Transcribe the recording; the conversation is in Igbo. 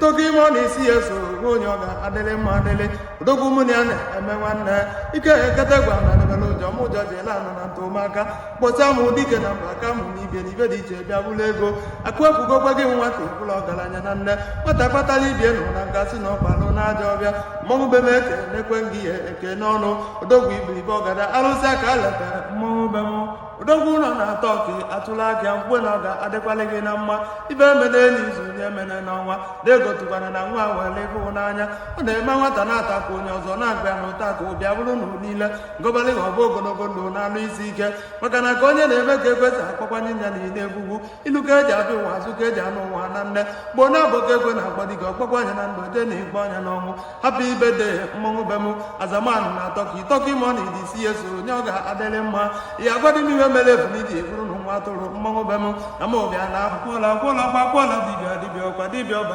turkey money si ya so onye ọ ga-adịlị mma adịlị odogwu mụ na ya na-eme nwanne ike ekete gwa na debere ụjọ m ụjọ ji ele anọ na ntụmaka kpọta m dike na mba aka mụ na ibe na ibe dị iche bịa buru ego akụ ekwugokwa gị nwata ị bụla ọgaranya na nne nwata kpatara ibie nkụ na a ga-asị na ọ kpalụ na ajọ ọfịa mmọnwụ be m eke na-ekwe ngị ya eke n'ọnụ odogwu ibiribe ọgada arụsị aka letara mmọnwụ be m odogwu nọ na turkey atụla aka ya mgbe na ọ ga-adịkwalị gị na mma ife emene n'izu nya emene n'ọnwa na-egotukwana na nwa were ịhụnanya ọ na-eme nwata na-ata ka onye ọzọ na-agba ya na ụta ka ọ bịa bụrụ na niile m gọbalị ha ọ bụ ogologo ndụ na arụ isi ike maka na ka onye na-eme ka ekwe si akpọkwanụ nya na ile egwugwu ilu ka eji abịa ụwa azụ ka eji ana ụwa na nne gboo na-abụ ka ekwe na-akpọ dike ọ kpọkwa nya na ndụ jee na-akpọ nya n'ọnwụ happy birthday mmọnwụ be m azaman nọ na turkey turkey money dị si ya so onye ọ ga-adịrị mma ya agwadị m ihe mere ebunu ji eburu na nwa atụrụ mmọnwụ be m na m ụbịa na akwụkwọla akwụla kwa akwụla dibịa dibịa ọkwa dibịa ọbara